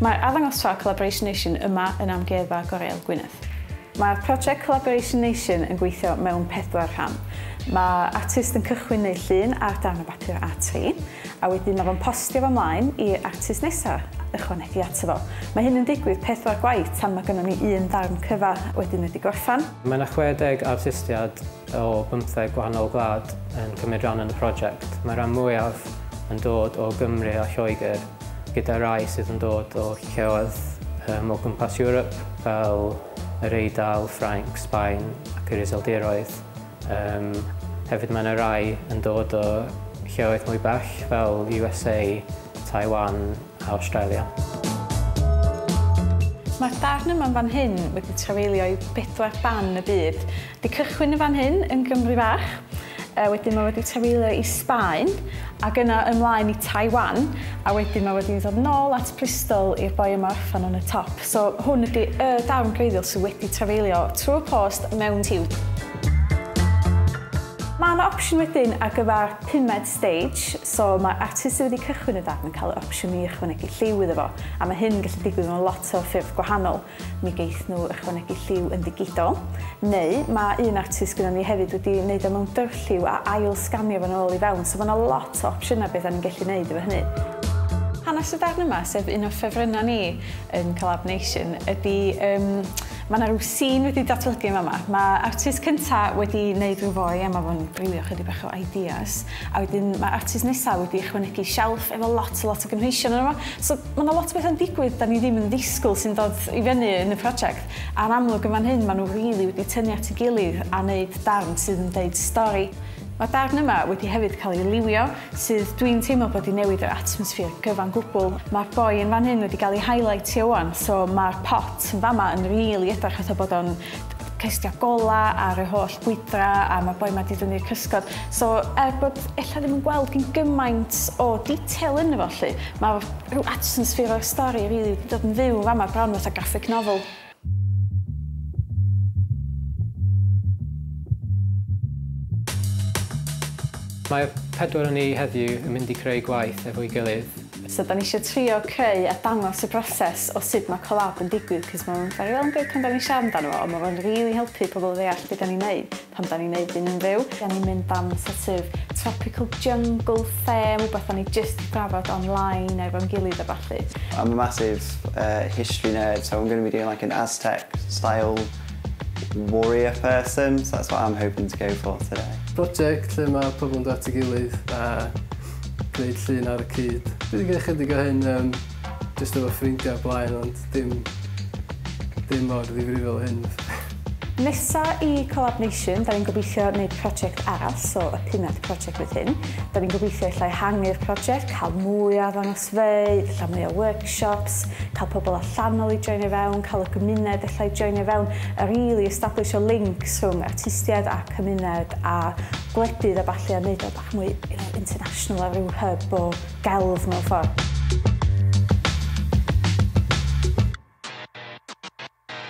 Mae'r arddangosfa Collaboration Nation yma yn Amgueddfa Goreuel Gwynedd. Mae'r prosiect Collaboration Nation yn gweithio mewn pedwar rhan. Mae artist yn cychwyn neu llun ar darn o bapur A3, a wedyn mae fo'n postio fo mlaen i'r artist nesaf ychwanegu ato fo. Mae hyn yn digwydd pedwar gwaith tan mae gynnon ni un darn cyfa wedyn wedi gorffan. Mae 'na 60 artistiad o bymtheg gwahanol wlad yn cymryd rhan yn y prosiect. Mae'r rhan mwyaf yn dod o Gymru a Lloegr, gyda rai sydd yn dod o lleoedd um, o gwmpas Ewrop fel yr Eidal, Ffrainc, Sbaen ac yr Iseldiroedd. Um, hefyd mae yna rai yn dod o lleoedd mwy bell fel USA, Taiwan a Australia. Mae'r darn yma'n fan hyn wedi trafeilio i bedwar ban y byd Di cychwyn yn fan hyn yn Gymru fach, yy wedyn mae wedi trafeilio i Sbaen ac yna ymlaen i Taiwan a wedyn mae wedi dod nôl at Bristol i'r boi yma orffan yn y top. So hwn ydi y darn gwreiddiol sydd wedi trafeilio trwy'r post mewn tiwb. Mae yna opsiwn wedyn ar gyfer pumed stage, so mae'r artist sydd wedi cychwyn y darn yn cael yr opsiwn i ychwanegu lliw iddo fo a mae hyn yn gallu digwydd mewn lot o ffyrdd gwahanol. Mi geith nhw ychwanegu lliw yn ddigidol, neu mae un artist gyda ni hefyd wedi wneud o mewn dyrlliw a ail sganio fo'n ôl i fewn, so mae yna lot o opsiynau beth ni'n gallu wneud efo hynny. Hanes y darn yma, sef un o ffefrynnau ni yn Collab Nation, ydy um, mae yna rhyw sîn wedi datblygu yma yma. Mae artist cynta wedi wneud rhyw foi a mae fo'n gwylio chydig bach o ideas. A wedyn mae artist nesaf wedi ychwanegu shelf efo lot a lot o gynhwysion yno fo. So Mae yna lot o bethau'n digwydd dan ni ddim yn ddisgwyl sy'n dod i fyny yn y prosiect, a'r amlwg yn fan hyn maen nhw rili wedi tynnu at ei gilydd a wneud darn sydd yn deud stori. Mae'r darn yma wedi hefyd cael ei liwio, sydd dwi'n teimlo bod 'di newid yr atmosffer gyfan gwbl. Mae'r boi yn fan hyn wedi gael ei highlightio ŵan, so mae'r pot yn fama yn rili edrych fatha bod o'n cestia gola ar yr holl gwydra a mae'r boi ma di dynnu'r cysgod. So er bod ella ddim yn gweld gyn gymaint o detail yn efo lly, mae rhyw atmosphere o'r stori rili really dod yn fyw yn fama bron fatha graphic novel. Mae pedwar o ni heddiw yn mynd i creu gwaith efo'i gilydd. So 'dan ni isio trio creu a dangos y broses o sut ma' collab yn digwydd 'c'os ma' fe'n very well and good pan 'dan ni'n siarad amdano fo ond ma' fe'n rili helpu pobl ddeall be' 'dan ni'n neud pan 'dan ni'n neud hyn yn fyw. 'Dan ni'n mynd am sort of tropical jungle theme, wbath o'n ni jyst 'di drafod online efo'n gilydd a ballu. I'm a massive uh history nerd so I'm gonna be doing like an Aztec style warrior person so that's what I'm hoping to go for today. Project lle ma' pobl yn dod at ei gilydd a gwneud llun ar y cyd. Dwi 'di gwneud chydig o hyn yym jyst efo ffrindia o'r blaen ond dim dim mor ddifrifol â hyn. Nesa i Collab Nation, 'da ni'n gobeithio neud project arall, so y pumed project fydd hyn. 'Da ni'n gobeithio ella ehangu'r project, cael mwy o arddangosfeydd, ella mwy o workshops, cael pobl allanol i joinio fewn, cael y gymuned ella i joinio fewn, a rili establish o links rhwng artistiaid a cymuned a gwledydd a ballu a neud o mwy you know, international a rhyw hub o gelf mewn ffordd.